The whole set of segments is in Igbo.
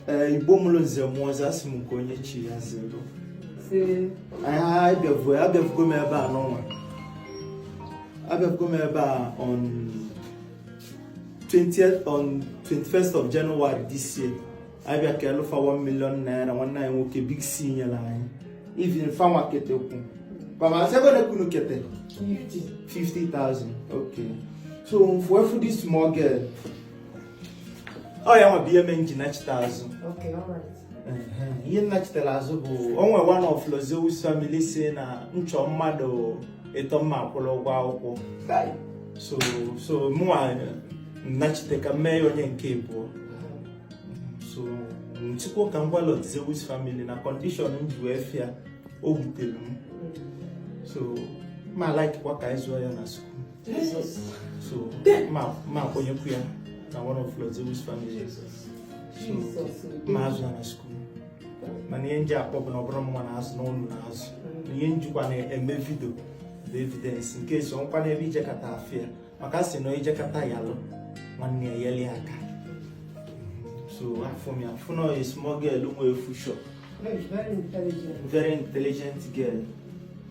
ee eh, igbo mụrụ nze mụọ ọzọ asị m nke onye chi ya zere abịafugo m ebe a n'ọnwa abịafugo m ebe a on 20th on 21st of January this year abịa keelụ fa 1 million naira nwanne anyị nwoke big c nyere anyị even fanwa ketekwu baba asegode ka unu kete 50,000 okay so m fụ afụ this small girl ọ ya nwa bụ ihe mee m ji nachite azụ ihe m nachitere azụ bụ o nwe one of Lord Zeus family sị na m chọọ mmadụ ịtọ mma akwụrụ ụgwọ akwụkwọ so so mụnwa nachite ka m mee ya onye nke abụọ so nchịkwa ka m gwa Lord Zeus family na condition m ji wee fụ ya o wutere m so ma like kwa ka anyị zụọ ya na school So, ma ma kwụnyekwu ya na one of Lord Zeus family. So, ma azụ ya na school. Mana ihe m ji akpọ bụ na ọ bụrọ mụnwa na-azụ na unu na-azụ. Na ihe m jikwa na-eme video bụ evidence in case o nwekwanụ ebe ị jekata afụ ya maka sị na ị jekata yalụ nwanne yelụ ya aka. So, afụ m ya afụ na small girl nwe future. Very intelligent. Very intelligent girl.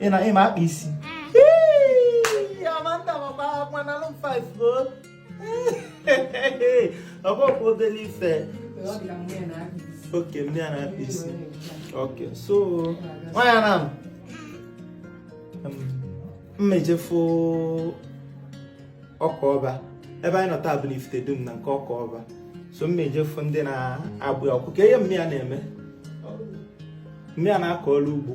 ị na ị ma akpa isi amanda makwa akwa nalụ m 5 o ọ bụ ọkwa obere ife okay nne ya na-akpa isi okay so nwanyị na m ma-ejefu ọka ọba ebe anyị nọ taa bụ na ifite dum na nke ọka ọba so m ma-ejefu ndị na-agbụ ya ọkụ ka ihe nne ya na-eme nne ya na-akọ ọrụ ugbo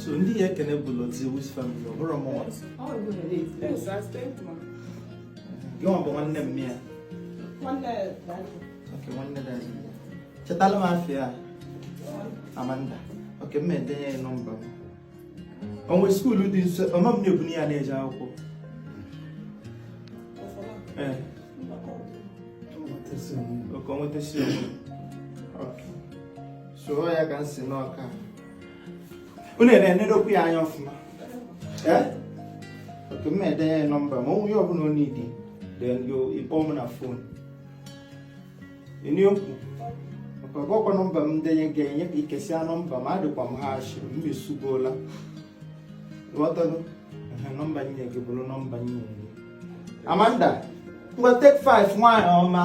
so ndị ị ya-ekene bụ Lord Zeus family ọ bụrọ mụnwa gịnwa bụ nwanne nne ya okay nwanne daddy chetalụ m afa ya amanda okay m edenye ya nọmba m o nwe school dị nso ọma m na-ebunye ya na-eje akwụkwọ ee okay onweta si onwe so ọ ya ka m sị na ka unu na-enedokwu ya anya ọfụma ee okay m na-edenye ya nọmba ma o nwe ihe ọbụla ọ need then you ị kpọọ m na phone eniokwu maka ọ bụkwa nọmba m denye gị enye gị ị kesịa nọmba ma adịkwa m harsh m esugola ghọtago ehe nọmba m nye gị bụrụ nọmba m nye gị amanda ngwa take five nwaanyị ọma